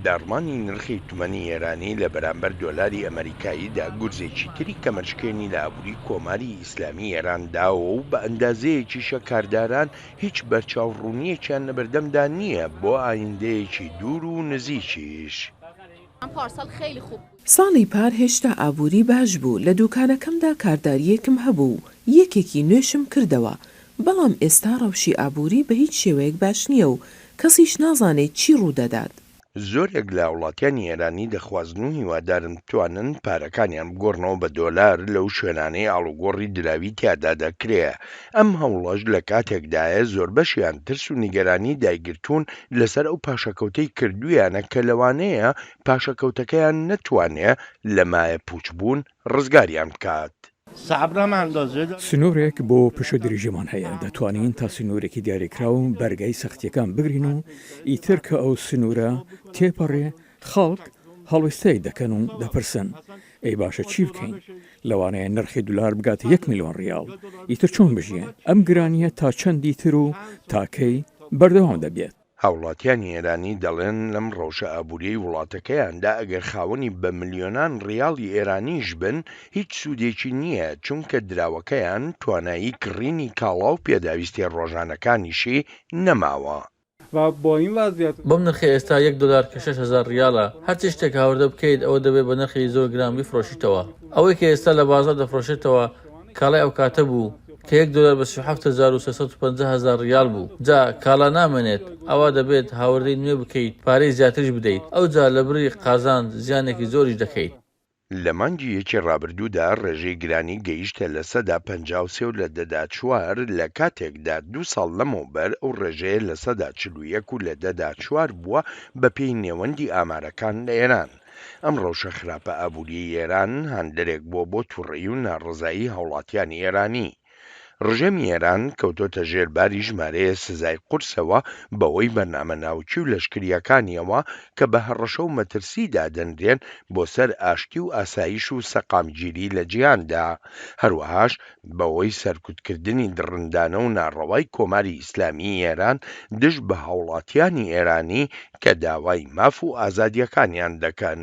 داڕمانی نرخی تومەنی ئێرانی لە بەرامبەر دۆلاری ئەمەریکاییدا گورزێکی تری کەمەرشکێنی لە ئابووری کۆماری ئیسلامی ئێران داوە و بە ئەندازەیەکیشە کارداران هیچ بەرچاو ڕوونییەکیان لە بەردەمدا نییە بۆ ئایندەیەکی دوور و نزیکیش. ساڵی پار هێشتا ئابووری باش بوو، لە دووکانەکەمدا کاردارییەکم هەبوو و یەکێکی نوێشم کردەوە، بەڵام ئێستا ڕەوشی ئابووری بە هیچ شێوەیەک باش نییە و کەسیش نازانێت چی ڕوو دەدات. زۆرێک لە وڵاتیانی ئێرانی دەخوازن و هیوادارن بتوانن پارەکانیان بگۆڕنەوە بە دۆلار لەو شوێنانەی ئاڵوگۆڕی دراوی تیادا دەکرێ، ئەم هەوڵەش لە کاتێکدایە زۆربەشیان ترس و نیگەرانی دایگرتوون لەسەر ئەو پاشەکەوتەی کردوویانە کە لەوانەیە پاشەکەوتەکەیان نەتوانێ لە مایەپووچبوون ڕزگاریان بکات. سنوورێک بۆ پشوودریژیمان هەیە، دەتوانین تا سنوورێکی دیاریکراو بەرگەی سەختییەکان بگرین و ئیتر کە ئەو سنوورە تێپەڕێ، خەڵک هەڵوێستەیەک دەکەن و دەپرسن، ئەی باشە چی بکەین؟ لەوانەیە نرخی دولار بگاتە یەک ملیۆن ڕیاڵ، ئیتر چۆن بژیێن؟ ئەم گرانییە تا چەندی تر و تا کەی بەردەوام دەبێت؟ هاوڵاتیانی ئێرانی دەڵێن لەم ڕەوشە ئابووریەی وڵاتەکەیاندا ئەگەر خاوەنی بە ملیۆنان ڕیاڵی ئێرانیش بن هیچ سوودێکی نییە چونکە دراوەکەیان توانایی کڕینی کاڵا و پێداویستیە ڕۆژانەکانیشی نەماوە. بەم نرخەی ئێستا یەک دۆلار کە شەش هەزار ڕیالە هەرچی شتێک هاوردە بکەیت ئەوە دەبێت بە نرخێکی زۆر گران بیفرۆشیتەوە ئەوەی کە ئێستا لە بازاڕ دەفرۆشێتەوە کاڵای ئەوکاتە بوو کە یەک دۆلار بە سی و حەفت هەزار و سێ سەد و پەنجا هەزار ڕیال بوو جا کاڵا نامێنێت ئەوا دەبێت هاوردەی نوێ بکەیت پارەی زیاتریش بدەیت ئەوجا لە بڕی قازانج زیانێکی زۆریش دەکەیت. لە مانگی یەکی ڕابردوودا ڕێژەی گرانی گەیشتە لە سەدا پەنجا و سێ و لە دەدا چوار لە کاتێکدا دوو ساڵ لەمەوبەر ئەو ڕێژەیە لە سەدا چل و یەک و لە دەدا چوار بووە بەپێی نێوەندی ئامارەکان لە ئێران. ئەم ڕەوشە خراپە ئابووریەی ئێران هاندەرێک بووە بۆ توڕەیی و ناڕەزایی هاوڵاتیانی ئێرانی. ڕژێمی ئێران کەوتۆتە ژێر باری ژمارەیە سزای قورسەوە بەوەی بەرنامە ناوکی و لەشکریەکانیەوە کە بە هەڕەشە و مەترسی دادەنرێن بۆ سەر ئاشتی و ئاسایش و سەقامگیری لە جیهاندا هەروەهاش بەهۆی سەرکوتکردنی دڕندانە و ناڕەوای کۆماری ئیسلامیی ئێران دژ بە هاوڵاتییانی ئێرانی کە داوای ماف و ئازادییەکانیان دەکەن.